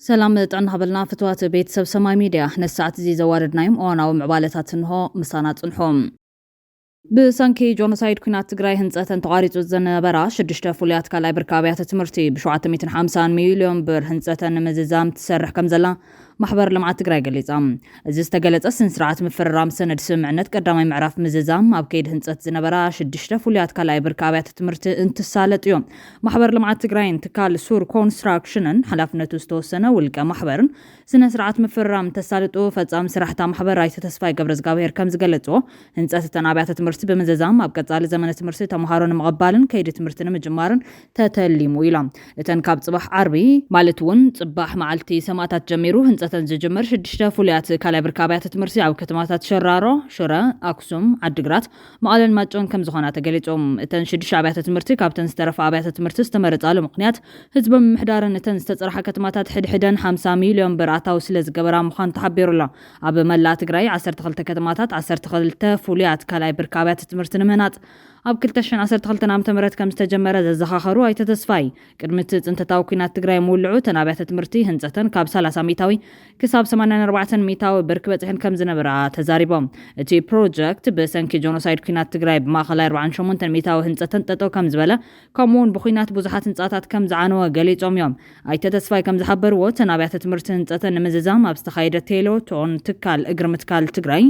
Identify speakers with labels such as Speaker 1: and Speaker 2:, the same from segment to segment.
Speaker 1: ሰላም ጥዕና ሃበልና ፍትዋት ቤት ሰብ ሰማይ ሚድያ ነዚ ሰዓት እዚ ዘዋደድናዮም እዋናዊ ምዕባለታት እንሆ ምሳና ጽንሑ። ብሰንኪ ጆኖሳይድ ኩናት ትግራይ ህንፀተን ተቋሪፁ ዝነበራ ሽዱሽተ ፍሉያት ካልኣይ ብርኪ ኣብያተ ትምህርቲ ብ ሸውዓተ ሚእትን ሓምሳን ሚሊዮን ብር ህንፀተን ንምዝዛም ትሰርሕ ከምዘላ ማሕበር ልምዓት ትግራይ ገሊፃ። እዚ ዝተገለፀ ስንስርዓት ምፍርራም ሰነድ ስምምዕነት ቀዳማይ ምዕራፍ ምዝዛም ኣብ ከይዲ ህንፀት ዝነበራ ሽዱሽተ ፍሉያት ካልኣይ ብርኪ ኣብያተ ትምህርቲ እንትሳለጥ እዩ። ማሕበር ልምዓት ትግራይን ትካል ሱር ኮንስትራክሽንን ሓላፍነቱ ዝተወሰነ ውልቀ ማሕበርን ስነ ስርዓት ምፍርራም እንተሳልጡ ፈፃሚ ስራሕ እታ ማሕበር ኣይተ ተስፋይ ገብረዝጋብሄር ከምዝገለፅዎ ህንፀት እተን ኣብያተ ትምህርቲ ብምዝዛም ኣብ ቀፃሊ ዘመነ ትምህርቲ ተምሃሮ ንምቕባልን ከይዲ ትምህርቲ ንምጅማርን ተተሊሙ ኢሎም። እተን ካብ ፅባሕ ዓርቢ ማለት እውን ፅባሕ መዓልቲ ሰማእታት ጀሚሩ ህንፀተን ዝጅምር ሽዱሽተ ፍሉያት ካልኣይ ብርኪ ኣብያተ ትምህርቲ ኣብ ከተማታት ሸራሮ፣ ሽረ፣ ኣክሱም፣ ዓዲግራት፣ መቐለን ማይጨውን ከምዝኾና ተገሊፁ። እተን ሽዱሽተ ኣብያተ ትምህርቲ ካብተን ዝተረፋ ኣብያተ ትምህርቲ ዝተመረፃሉ ምኽንያት ህዝበ ምምሕዳር ንተን ዝተፅረሓ ከተማታት ሕድ ሕደን ሓምሳ ሚሊዮን ብር ኣታዊ ስለዝገበራ ምዃኑ ተሓቢሩ ኣሎ። ኣብ መላእ ትግራይ ዓሰርተ ክልተ ከተማታት ዓሰርተ ክልተ ፍሉያት ካልኣይ ብርኪ ኣብያተ ትምህርቲ ንምህናፅ ኣብ ክልተ ሽሕን ዓሰርተ ክልተን ዓመተ ምህረት ከምዝተጀመረ ዘዘኻኸሩ ኣይተ ተስፋይ፣ ቅድሚ እቲ ፅንተታዊ ኲናት ትግራይ ምውልዑ እተን ኣብያተ ትምህርቲ ህንፀተን ካብ ሰላሳ ሚኢታዊ ክሳብ ሰማንያን ኣርባዕተን ሚእታዊ ብርኪ በፂሐን ከም ዝነበራ ተዛሪቦም። እቲ ፕሮጀክት ብሰንኪ ጆኖሳይድ ኲናት ትግራይ ብማእኸላይ ኣርብዓን ሸሞንተን ሚእታዊ ህንፀተን ጠጠው ከም ዝበለ ከምኡ እውን ብዂናት ብዙሓት ህንፃታት ከም ዝዓነወ ገሊፆም እዮም። ኣይተ ተስፋይ ከም ዝሓበርዎ እተን ኣብያተ ትምህርቲ ህንፀተን ንምዝዛም ኣብ ዝተኻየደ ቴሎ ቶን ትካል እግሪ ምትካል ትግራይ፣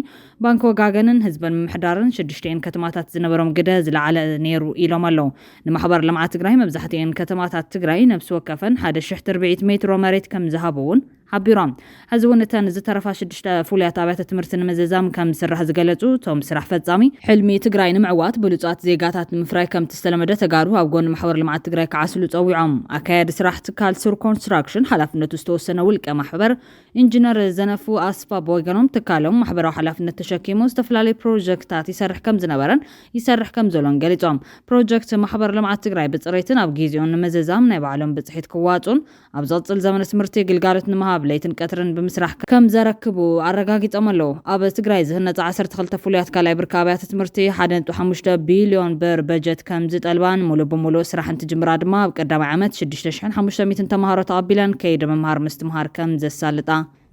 Speaker 1: ባንኪ ወጋገንን ህዝበን ምምሕዳርን ሽዱሽቲኤን ከተማታት ዝነበሮም ግደ ዝለዓለ ነይሩ ኢሎም ኣለው። ንማሕበር ልምዓት ትግራይ መብዛሕቲኤን ከተማታት ትግራይ ነብሲ ወከፈን ሓደ ሽሕ ትርብዒት ሜትሮ መሬት ከምዝሃቡ እውን ሓቢሮም። ሕዚ እውን እተን ዝተረፋ ሽዱሽተ ፍሉያት ኣብያተ ትምህርቲ ንምዝዛም ከምዝስራሕ ዝገለፁ እቶም ስራሕ ፈፃሚ፣ ሕልሚ ትግራይ ንምዕዋት ብሉፃት ዜጋታት ንምፍራይ ከምቲ ዝተለመደ ተጋሩ ኣብ ጎኒ ማሕበር ልምዓት ትግራይ ክዓስሉ ፀዊዖም። ኣካያዲ ስራሕ ትካል ሱር ኮንስትራክሽን ሓላፍነቱ ዝተወሰነ ውልቀ ማሕበር ኢንጅነር ዘነፉ ኣስፋ ብወገኖም ትካሎም ማሕበራዊ ሓላፍነት ተሸኪሙ ዝተፈላለዩ ፕሮጀክትታት ይሰርሕ ከምዝነበረን ይሰርሕ ከምዘሎን ገሊፆም። ፕሮጀክት ማሕበር ልምዓት ትግራይ ብፅሬትን ኣብ ጊዚኡን ንምዝዛም ናይ ባዕሎም ብፅሒት ክዋፅኡን ኣብ ዝቕፅል ዘመነ ትምህርቲ ግልጋሎት ንምሃብ ለይትን ቀትርን ብምስራሕ ከምዘረክቡ ኣረጋጊፆም ኣለው። ኣብ ትግራይ ዝህነፃ ዓሰርተ ክልተ ፍሉያት ካልኣይ ብርኪ ኣብያተ ትምህርቲ ሓደ ነጥቢ ሓሙሽተ ቢሊዮን ብር በጀት ከምዝጠልባን ሙሉእ ብሙሉእ ስራሕ እንትጅምራ ድማ ኣብ ቀዳማይ ዓመት ሽዱሽተ ሽሕን ሓሙሽተ ሚእትን ተምሃሮ ተቐቢለን ከይዲ ምምሃር ምስትምሃር ከም ዘሳልጣ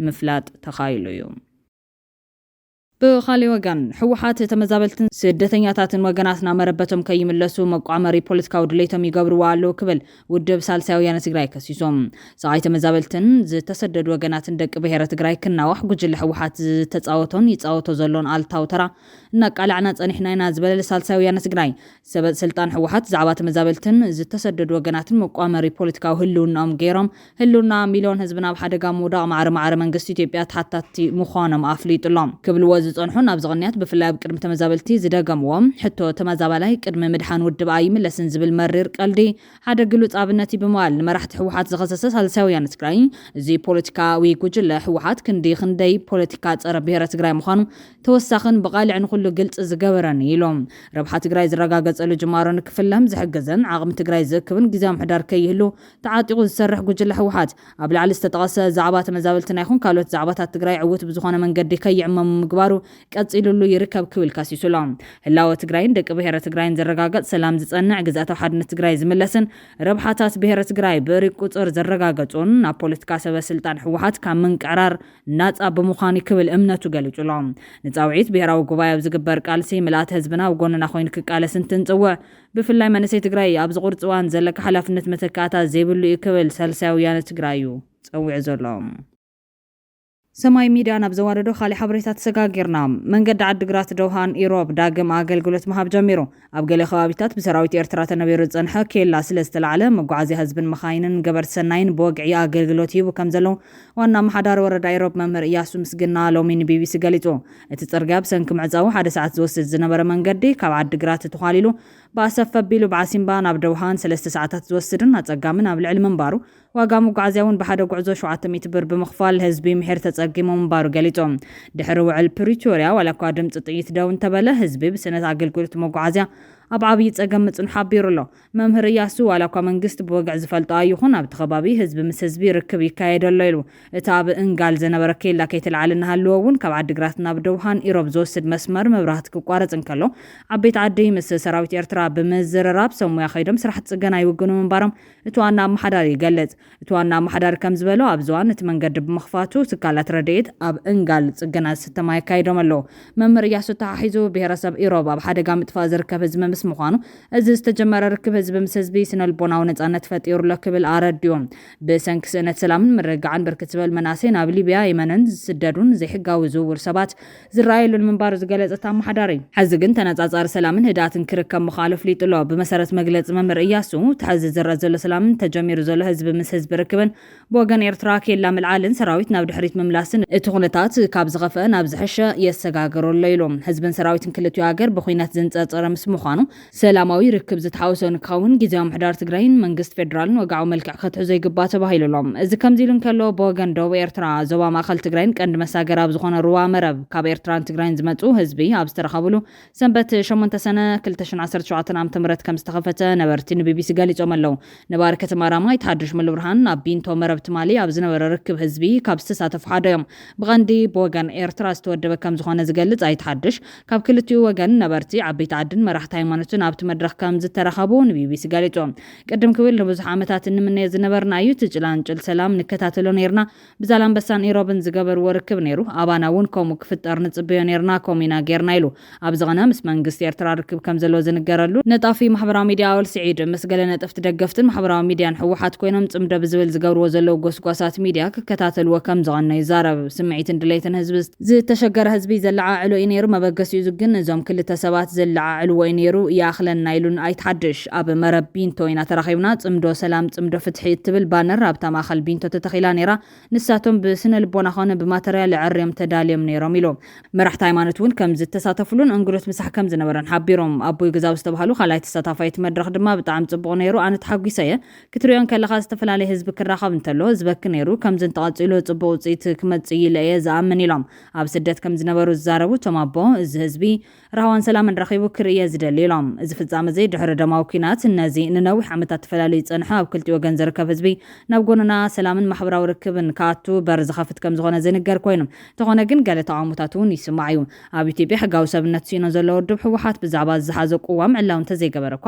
Speaker 1: ምፍላጥ ተኻኢሉ እዩ። ብኻሊእ ወገን ህወሓት ተመዛበልትን ስደተኛታትን ወገናትና መረበቶም ከይምለሱ መቋመሪ ፖለቲካዊ ድሌቶም ይገብርዎ ኣለዉ ክብል ውድብ ሳልሳይ ወያነ ትግራይ ከሲሱ። ስቓይ ተመዛበልትን ዝተሰደዱ ወገናትን ደቂ ብሄረ ትግራይ ክናዋሕ ጉጅለ ህወሓት ዝተፃወቶን ይፃወቶ ዘሎን ኣሉታዊ ተራ እናቃላዕና ፀኒሕና ኢና ዝበለ ሳልሳይ ወያነ ትግራይ ሰበ ስልጣን ህወሓት ዛዕባ ተመዛበልትን ዝተሰደዱ ወገናትን መቋመሪ ፖለቲካዊ ህልውናኦም ገይሮም ህልውና ሚልዮን ህዝብና ኣብ ሓደጋ ምውዳቕ ማዕረ ማዕረ መንግስቲ ኢትዮጵያ ተሓታትቲ ምዃኖም ኣፍሊጡ ኣሎ ክብልዎ ዝፀንሑን ኣብዚ ቅንያት ብፍላይ ኣብ ቅድሚ ተመዛበልቲ ዝደገምዎ ሕቶ ተመዛባላይ ቅድሚ ምድሓን ውድብ ኣይምለስን ዝብል መሪር ቀልዲ ሓደ ግሉፅ ኣብነት እዩ ብምባል ንመራሕቲ ህወሓት ዝኸሰሰ ሳልሳይ ወያነ ትግራይ እዚ ፖለቲካዊ ጉጅለ ህወሓት ክንዲ ክንደይ ፖለቲካ ፀረ ብሄረ ትግራይ ምዃኑ ተወሳኽን ብቓልዕ ንኹሉ ግልፂ ዝገበረን እዩ ኢሎም። ረብሓ ትግራይ ዝረጋገፀሉ ጅማሮ ንክፍለም ዝሕግዝን ዓቕሚ ትግራይ ዝእክብን ጊዚያዊ ምሕዳር ከይህሉ ተዓጢቑ ዝሰርሕ ጉጅለ ህወሓት ኣብ ላዕሊ ዝተጠቐሰ ዛዕባ ተመዛበልትና ይኹን ካልኦት ዛዕባታት ትግራይ ዕውት ብዝኾነ መንገዲ ከይዕመሙ ምግባሩ ቀፂሉሉ ይርከብ ክብል ከሲሱ ኣሎ። ህላወ ትግራይን ደቂ ብሄረ ትግራይን ዝረጋገፅ፣ ሰላም ዝፀንዕ፣ ግዝኣታዊ ሓድነት ትግራይ ዝምለስን ረብሓታት ብሄረ ትግራይ ብእርግ ቁፅር ዝረጋገፁን ናብ ፖለቲካ ሰበ ስልጣን ህወሓት ካብ ምንቅዕራር ናጻ ብምዃን'ዩ ክብል እምነቱ ገሊጹ'ሎ። ንጻውዒት ብሄራዊ ጉባኤ ኣብ ዝግበር ቃልሲ፣ ምልኣት ህዝብና ኣብ ጎንና ኮይኑ ክቃለስ እንትንጽውዕ፣ ብፍላይ መንእሰይ ትግራይ ኣብዚ ቁርፂ እዋን ዘለካ ሓላፍነት መተካእታ ዘይብሉ እዩ ክብል ሳልሳይ ወያነ ትግራይ እዩ ፀዊዑ ዘሎ። ሰማይ ሚድያ ናብ ዘዋደዶ ካሊእ ሓበሬታ ተሰጋጊርና። መንገዲ ዓዲግራት-ደውሃን ኢሮብ ዳግም ኣገልግሎት ምሃብ ጀሚሩ። ኣብ ገለ ከባቢታት ብሰራዊት ኤርትራ ተነቢሩ ዝጸንሐ ኬላ ስለ ዝተላዕለ፣ መጓዓዝያ ህዝብን መኻይንን ገበርቲ ሰናይን ብወግዒ ኣገልግሎት ይህቡ ከም ዘለዉ ዋና ኣመሓዳሪ ወረዳ ኢሮብ መምህር እያሱ ምስግና ሎሚ ንቢቢሲ ገሊጹ። እቲ ጽርግያ ብሰንኪ ምዕጻዉ ሓደ ሰዓት ዝወስድ ዝነበረ መንገዲ ካብ ዓዲ ግራት ተዃሊሉ ብኣሰፍ ኣቢሉ ብዓሲምባ ናብ ደውሃን ሰለስተ ሰዓታት ዝወስድን ኣጸጋምን ኣብ ልዕሊ ምንባሩ ዋጋ መጓዓዝያ እውን ብሓደ ጉዕዞ ሸውዓተ ሚእቲ ብር ብምኽፋል ህዝቢ ምሒር ተፀጊሙ ምንባሩ ገሊፆም። ድሕሪ ውዕል ፕሪቶርያ ዋላ እኳ ድምፂ ጥይት ደው እንተበለ ህዝቢ ብስእነት ኣገልግሎት መጓዓዝያ ኣብ ዓብዪ ፀገም ምፅንሑ ሓቢሩ ኣሎ። መምህር እያሱ ዋላ እኳ መንግስቲ ብወግዒ ዝፈልጦ ኣይኹን ኣብቲ ከባቢ ህዝቢ ምስ ህዝቢ ርክብ ይካየድ ኣሎ ኢሉ። እቲ ኣብ እንጋል ዝነበረ ኬላ ከይተልዓለ እናሃለወ እውን ካብ ዓዲግራት ናብ ደውሃን ኢሮብ ዝወስድ መስመር መብራህቲ ክቋረፅ እንከሎ ዓበይቲ ዓዲ ምስ ሰራዊት ኤርትራ ብምዝርራብ ሰብ ሙያ ከይዶም ስራሕቲ ፅገና ይውግኑ ምንባሮም እቲ ዋና ኣመሓዳሪ ይገልጽ። እቲ ዋና ኣመሓዳሪ ከምዝበሎ፣ ኣብዚ እዋን እቲ መንገዲ ብምኽፋቱ ትካላት ረድኤት ኣብ እንጋል ጽገና ዝስተ ማይ ኣካይዶም ኣለዉ። መምህር እያሱ ኣተሓሒዙ፣ ብሄረሰብ ኢሮብ ኣብ ሓደጋ ምጥፋእ ዝርከብ ህዝቢ ምስ ምዃኑ፣ እዚ ዝተጀመረ ርክብ ህዝቢ ምስ ህዝቢ ስነልቦናዊ ነጻነት ፈጢሩ'ሎ ክብል ኣረዲኡ። ብሰንኪ ስእነት ሰላምን ምርግጋዕን ብርክት ዝበሉ መናእሰይ ናብ ሊብያ፣ የመንን ዝስደዱን ዘይሕጋዊ ዝውውር ሰባት፣ ዝረኣየሉን ምንባሩ ዝገለጸ እቲ ኣመሓዳሪ፣ ሕዚ ግን ተነጻጻሪ ሰላምን ህድኣትን ክርከብ ምኽኣሉ ኣፍሊጡ'ሎ። ብመሰረት መግለጺ መምህር እያሱ፣ እቲ ሕዚ ዝረኣ ዘሎ ሰላምን ተጀሚሩ ዘሎ ህዝቢ ምስ ህዝቢ ርክብን፣ ብወገን ኤርትራ ኬላ ምልዓልን ሰራዊት ናብ ድሕሪት ምምላስን፣ እቲ ኩነታት ካብ ዝኸፍኣ ናብ ዝሐሸ የሰጋግሮ'ሎ ኢሉ። ህዝብን ሰራዊትን ክልቲኡ ሃገር ብኩናት ዝንጸርጸረ ምስ ምዃኑ፣ ሰላማዊ ርክብ ዝተሓወሶ ንክኸውን ጊዚያዊ ምሕዳር ትግራይን መንግስቲ ፌዴራልን ወግዓዊ መልክዕ ከትሕዞ ይግባእ ተባሂሉ ኣሎ። እዚ ከምዚ ኢሉ እንከሎ፣ ብወገን ዶብ ኤርትራ፣ ዞባ ማእኸል ትግራይን ቀንዲ መሳገሪ ኣብ ዝኾነ ሩባ መረብ ካብ ኤርትራን ትግራይን ዝመፅኡ ህዝቢ ኣብ ዝተረኸብሉ ሰንበት ሸሞንተ ሰነ ክልተ ሽሕን ዓሰርተ ሸውዓተን ዓመተ ምህረት ከምዝተኸፈተ ነበርቲ ንቢቢሲ ገሊፆም ኣለው። ነባሪ ከተማ ራማ ኣይተ ሓዱሽ ሙሉብርሃን ኣብ ቢንቶ መረብ ትማሊ ኣብ ዝነበረ ርክብ ህዝቢ ካብ ዝተሳተፉ ሓደ እዮም። ብቐንዲ ብወገን ኤርትራ ዝተወደበ ከምዝኾነ ዝገልፅ ኣይተ ሓዱሽ፣ ካብ ክልቲኡ ወገን ነበርቲ፣ ዓበይቲ ዓድን መራሕቲ ሃይማኖትን ኣብቲ መድረኽ ከም ዝተረኸቡ ንቢቢሲ ገሊጹ። ቅድም ክብል ንብዙሕ ዓመታት እንምነዮ ዝነበርና እዩ፣ እቲ ጭላንጭል ሰላም ንከታተሎ ኔርና፣ ብዛላምበሳን ኢሮብን ዝገበርዎ ርክብ ኔሩ፣ ኣባና እውን ከምኡ ክፍጠር ንጽበዮ ኔርና፣ ከምኡ ኢና ጌርና ኢሉ። ኣብዚ ቕነ ምስ መንግስቲ ኤርትራ ርክብ ከም ዘለዎ ዝንገረሉ፣ ነጣፊ ማሕበራዊ ሚድያ ኣወል ስዒድ፣ ምስ ገለ ነጠፍቲ ደገፍትን ማሕበራዊ ሚድያን ህወሓት ኮይኖም ጽምዶ ብዝብል ዝገብርዎ ዘለዉ ጎስጓሳት ሚድያ ክከታተልዎ ከም ዝቐነዩ ይዛረብ። ስምዒትን ድሌትን ህዝቢ ዝተሸገረ ህዝቢ ዘለዓዕሎ እዩ ነይሩ፣ መበገሲኡ እዚ ግን እዞም ክልተ ሰባት ዘለዓዕልዎ እዩ ነይሩ፣ ይኣኽለና ኢሉን ኣይትሓድሽ ኣብ መረብ ቢንቶ ኢና ተራኺብና፣ ጽምዶ ሰላም ጽምዶ ፍትሒ እትብል ባነር ኣብታ ማእኸል ቢንቶ ተተኺላ ነይራ፣ ንሳቶም ብስነልቦና ኮነ ብማተርያል ኣዐርዮም ተዳልዮም ነይሮም ኢሉ። መራሕቲ ሃይማኖት እውን ከም ዝተሳተፍሉን እንግዶት ምሳሕ ከም ዝነበረን ሓቢሮም። ኣቦይ ግዛው ዝተብሃሉ ካልኣይ ተሳታፋይ እቲ መድረኽ ድማ ብጣዕሚ ጽቡቕ ነይሩ፣ ኣነ ተሓጒሰ እየ፣ ክትሪኦ እንከለኻ ዝተፈላለየ ህዝቢ ክራኸብ እንተሎ ዝበኪ ነይሩ፣ ከምዚ እንተቐፂሉ ፅቡቕ ውፅኢት ክመፅእ እዩ ኢለ እየ ዝኣምን ኢሎም። ኣብ ስደት ከምዝነበሩ ዝዛረቡ እቶም ኣቦ፣ እዚ ህዝቢ ራህዋን ሰላምን ረኺቡ ክርኢ እየ ዝደሊ ኢሎም። እዚ ፍፃመ እዚ ድሕሪ ደማዊ ኲናት ነዚ ንነዊሕ ዓመታት ተፈላልዩ ዝፀንሐ ኣብ ክልቲኡ ወገን ዝርከብ ህዝቢ ናብ ጎንና ሰላምን ማሕበራዊ ርክብን ክኣቱ በር ዝኸፍት ከምዝኾነ ዝንገር ኮይኑ እንተኾነ ግን ገለ ተቓውሞታት እውን ይስማዕ እዩ። ኣብ ኢትዮጵያ ሕጋዊ ሰብነት ስኢኖ ዘሎ ውድብ ህወሓት ብዛዕባ ዝሓዞ ቅዋም ዕላዊ እንተዘይገበረ እኳ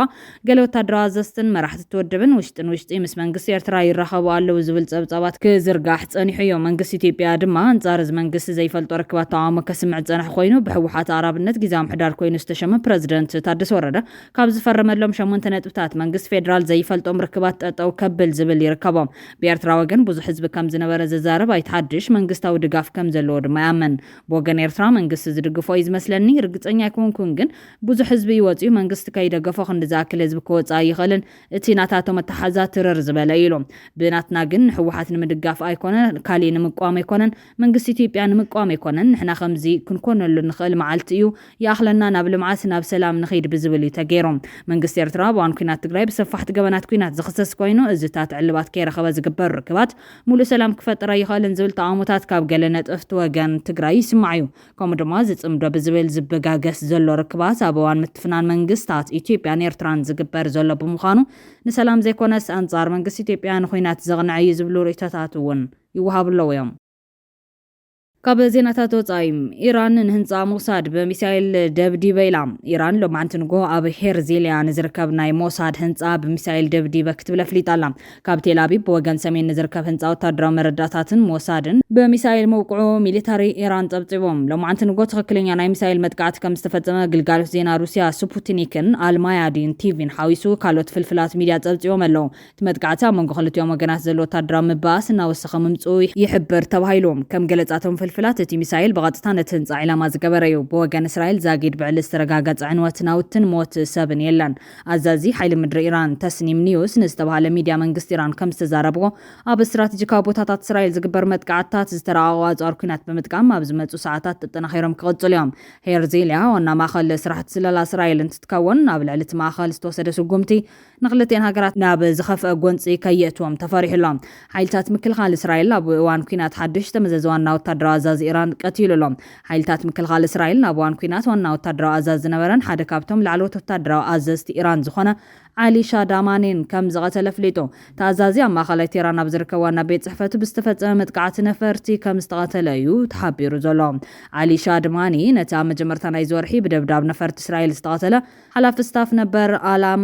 Speaker 1: ገለ ወታደራዊ ኣዘዝትን መራሕቲ እቲ ውድብን ውሽጢ ንውሽጢ ምስ መንግስቲ ኤርትራ ይራኸቡ ኣለዉ ዝብል ጸብጻባት ክዝርጋሕ ጸኒሑ እዮ። መንግስቲ ኢትዮጵያ ድማ ኣንጻር እዚ መንግስቲ ዘይፈልጦ ርክባት ተቓውሞ ከስምዕ ዝጸንሐ ኮይኑ፣ ብህወሓት ኣቕራብነት ግዝያዊ ምሕዳር ኮይኑ ዝተሸመ ፕረዚደንት ታደሰ ወረደ ካብ ዝፈረመሎም ሸሞንተ ነጥብታት መንግስቲ ፌደራል ዘይፈልጦም ርክባት ጠጠው ከብል ዝብል ይርከቦም። ብኤርትራ ወገን ብዙሕ ህዝቢ ከም ዝነበረ ዝዛረብ ኣይተ ሓድሽ፣ መንግስታዊ ድጋፍ ከም ዘለዎ ድማ ይኣምን። ብወገን ኤርትራ መንግስቲ ዝድግፎ እዩ ዝመስለኒ፣ ርግጸኛ ኣይኮንኩን ግን፣ ብዙሕ ህዝቢ እዩ ወጺኡ መንግስቲ ከይደገፎ ክንዲ ዝኣክል ህዝቢ ክወጽእ ኣይኽእልን እቲ ናታቶም ኣተሓሕዛ ትርር ዝበለ እዩ ኢሉ ብናትና ግን ንሕወሓት ንምድጋፍ ኣይኮነ ካሊእ ንምቅዋም ኣይኮነን መንግስቲ ኢትዮጵያ ንምቅዋም ኣይኮነን ንሕና ከምዚ ክንኮነሉ ንኽእል መዓልቲ እዩ ይኣኽለና ናብ ልምዓት ናብ ሰላም ንኺድ ብዝብል እዩ ተገይሩ መንግስቲ ኤርትራ ኣብ እዋን ኩናት ትግራይ ብሰፋሕቲ ገበናት ኩናት ዝኽሰስ ኮይኑ እዚታት ዕልባት ከይረኸበ ዝግበር ርክባት ሙሉእ ሰላም ክፈጥር ኣይኽእልን ዝብል ተቓውሞታት ካብ ገለ ነጠፍቲ ወገን ትግራይ ይስማዕ እዩ ከምኡ ድማ ዝጽምዶ ብዝብል ዝብጋገስ ዘሎ ርክባት ኣብ እዋን ምትፍናን መንግስታት ኢትዮጵያን ኤርትራን ዝግበር ዘሎ ብምዃኑ ንሰላም ዘይኮነስ ኣንጻር መንግስቲ ኢትዮጵያ ንኹናት ዘቕንዐ እዩ ዝብሉ ርእይቶታት እውን ይወሃቡ ኣለዉ እዮም። ካብ ዜናታት ወጻኢ፣ ኢራን ንህንጻ ሞሳድ ብሚሳይል ደብዲበ ኢላ። ኢራን ሎማዕንቲ ንግሆ ኣብ ሄርዚሊያ ንዝርከብ ናይ ሞሳድ ህንጻ ብሚሳይል ደብዲበ ክትብል ኣፍሊጣ ኣላ። ካብ ቴልኣቪቭ ብወገን ሰሜን ንዝርከብ ህንጻ ወተሃደራዊ መረዳእታትን ሞሳድን ብሚሳይል ምውቅዑ ሚሊታሪ ኢራን ጸብጺቡ። ሎማዕንቲ ንግሆ ትኽክለኛ ናይ ሚሳይል መጥቃዕቲ ከምዝተፈጸመ ግልጋሎት ዜና ሩስያ ስፑትኒክን ኣልማያዲን ቲቪን ሓዊሱ ካልኦት ፍልፍላት ሚድያ ጸብጺቦም ኣለው። እቲ መጥቃዕቲ ኣብ መንጎ ክልቲኦም ወገናት ዘሎ ወተሃደራዊ ምብኣስ እናወሰኸ ምምጽኡ ይሕብር ተባሂሉ። ከም ገለጻ እቶም ፍልፍላት እቲ ሚሳይል ብቐጥታ ነቲ ህንጻ ዒላማ ዝገበረ'ዩ። ብወገን እስራኤል ዛጊድ ብዕሊ ዝተረጋገጸ ዕንወት ናውትን ሞት ሰብን የለን። ኣዛዚ ሓይሊ ምድሪ ኢራን ተስኒም ኒውስ ንዝተባህለ ሚድያ መንግስቲ ኢራን ከምዝተዛረብዎ፣ ኣብ ስትራቴጂካዊ ቦታታት እስራኤል ዝግበር መጥቃዕትታት ዝተራቐቑ ኣጽዋር ኲናት ብምጥቃም ኣብ ዝመጽኡ ሰዓታት ተጠናኺሮም ክቕጽሉ እዮም። ሄርዚልያ ዋና ማእኸል ስራሕቲ ስለላ እስራኤል እንትትከውን፣ ኣብ ልዕሊ እቲ ማእኸል ዝተወሰደ ስጉምቲ ንክልቲኤን ሃገራት ናብ ዝኸፍኣ ጎንጺ ከየእትዎም ተፈሪሑ ኣሎ። ሓይልታት ምክልኻል እስራኤል ኣብ እዋን ኲናት ሓዱሽ ዝተመዘዘ ዋና ወታደራዊ ኣዛዚ ኢራን ቀቲሉ ኣሎ። ሓይልታት ምክልኻል እስራኤል ኣብ እዋን ኲናት ዋና ወታደራዊ ኣዛዚ ዝነበረን ሓደ ካብቶም ላዕለዎት ወታደራዊ ኣዘዝቲ ኢራን ዝኾነ ዓሊ ሻዳማኒን ከም ዝቐተለ ኣፍሊጡ። እቲ ኣዛዚ ኣብ ማእኸላይ ቴህራን ኣብ ዝርከብ ዋና ቤት ጽሕፈቱ ብዝተፈጸመ መጥቃዕቲ ነፈርቲ ከም ዝተቐተለ እዩ ተሓቢሩ ዘሎ። ዓሊ ሻድማኒ ነቲ ኣብ መጀመርታ ናይዚ ወርሒ ብደብዳብ ነፈርቲ እስራኤል ዝተቐተለ ሓላፊ ስታፍ ነበር ኣላም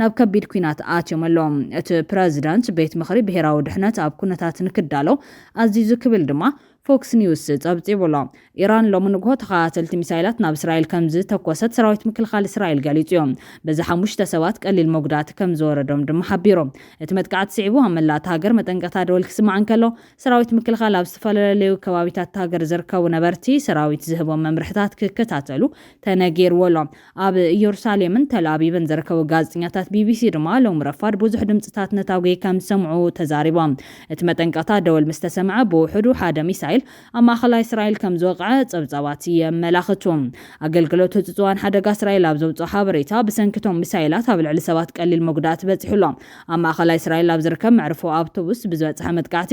Speaker 1: ናብ ከቢድ ኲናት ኣትዮም ኣሎዉ። እቲ ፕረዚደንት፣ ቤት ምኽሪ ብሄራዊ ድሕነት ኣብ ኩነታት ንክዳሎ ኣዚዙ ክብል ድማ ፎክስ ኒውስ ጸብጺቡ ኣሎ። ኢራን ሎሚ ንግሆ ተኸታተልቲ ሚሳይላት ናብ እስራኤል ከምዝተኮሰት ሰራዊት ምክልኻል እስራኤል ገሊጹ'ዩ። በዚ ሓሙሽተ ሰባት ቀሊል መጉዳእቲ ከምዝወረዶም ድማ ሓቢሩ። እቲ መጥቃዕቲ ስዒቡ ኣብ መላእ እታ ሃገር መጠንቀቕታ ደወል ክስማዕ እንከሎ፣ ሰራዊት ምክልኻል ኣብ ዝተፈለለዩ ከባቢታት እታ ሃገር ዝርከቡ ነበርቲ ሰራዊት ዝህቦም መምርሕታት ክከታተሉ ተነጊርዎ ኣሎ። ኣብ እየሩሳሌምን ተልኣቪቭን ዝርከቡ ጋዜጠኛታት ቢቢሲ ድማ ሎሚ ረፋድ ብዙሕ ድምጽታት ነታጒ ከም ዝሰምዑ ተዛሪቦም። እቲ መጠንቀቕታ ደወል ምስ ተሰምዐ ብውሕዱ ሓደ ሚሳይል ኣብ ማእከላይ እስራኤል ከም ዝወቕዐ ጸብጻባት የመላኽቱ። ኣገልግሎት ህጹጽዋን ሓደጋ እስራኤል ኣብ ዘውጽኦ ሓበሬታ፣ ብሰንኪ እቶም ሚሳይላት ኣብ ልዕሊ ሰባት ቀሊል መጉዳእቲ በጺሑ ኣሎ። ኣብ ማእከላይ እስራኤል ኣብ ዝርከብ መዕርፎ ኣውቶቡስ ብዝበጽሐ መጥቃዕቲ፣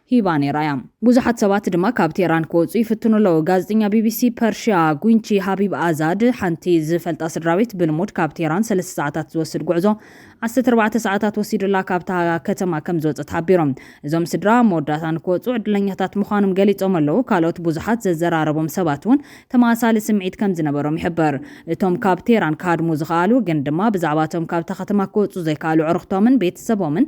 Speaker 1: ሂባ ነይራ እያ። ብዙሓት ሰባት ድማ ካብ ቴህራን ክወጹ ይፍትኑ ኣለዉ። ጋዜጠኛ ቢቢሲ ፐርሽያ ጉንቺ ሃቢብ ኣዛድ፣ ሓንቲ ዝፈልጣ ስድራቤት ብልሙድ ካብ ቴህራን ሰለስተ ሰዓታት ዝወስድ ጉዕዞ ዓሰርተ ኣርባዕተ ሰዓታት ወሲዱላ ካብታ ከተማ ከምዝወጸት ሓቢሮም። እዞም ስድራ ኣብ መወዳእታ ንክወጹ ዕድለኛታት ምዃኖም ገሊጾም ኣለዉ። ካልኦት ብዙሓት ዘዘራረቦም ሰባት'ውን ተመሳሳሊ ስምዒት ከምዝነበሮም ይሕበር። እቶም ካብ ቴህራን ክሃድሙ ዝኸኣሉ ግን ድማ ብዛዕባ'ቶም ካብታ ከተማ ክወጹ ዘይከኣሉ ኣዕሩኽቶምን ቤተሰቦምን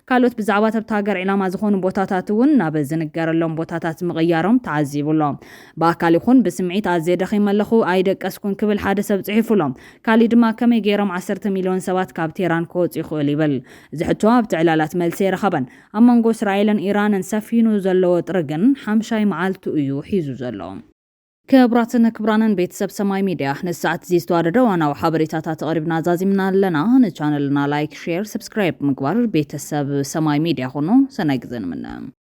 Speaker 1: ካልኦት ብዛዕባ እታ ሃገር ዒላማ ዝኾኑ ቦታታት እውን ናብ ዝንገረሎም ቦታታት ምቕያሮም ተዓዚቡ ኣሎ። ብኣካል ይኹን ብስምዒት ኣዝየ ደኺመ ኣለኹ፣ ኣይደቀስኩን ክብል ሓደ ሰብ ጽሒፉ ኣሎ። ካሊእ ድማ ከመይ ገይሮም ዓሰርተ ሚልዮን ሰባት ካብ ቴህራን ክወጹ ይኽእሉ ይብል። እዚ ሕቶ ኣብቲ ዕላላት መልሲ ኣይረኸበን። ኣብ መንጎ እስራኤልን ኢራንን ሰፊኑ ዘሎ ወጥሪ ግን ሓምሻይ መዓልቱ እዩ ሒዙ ዘሎ። ክብራትን ክብራንን ቤተሰብ ሰማይ ሚድያ ነዚ ሰዓት እዚ ዝተዋደደ ዋናዊ ሓበሬታታት ተቐሪብና ዛዚምና ኣለና። ንቻነልና ላይክ፣ ሼር፣ ሰብስክራይብ ምግባር ቤተሰብ ሰማይ ሚድያ ኹኑ። ሰናይ ግዘ ንምነ።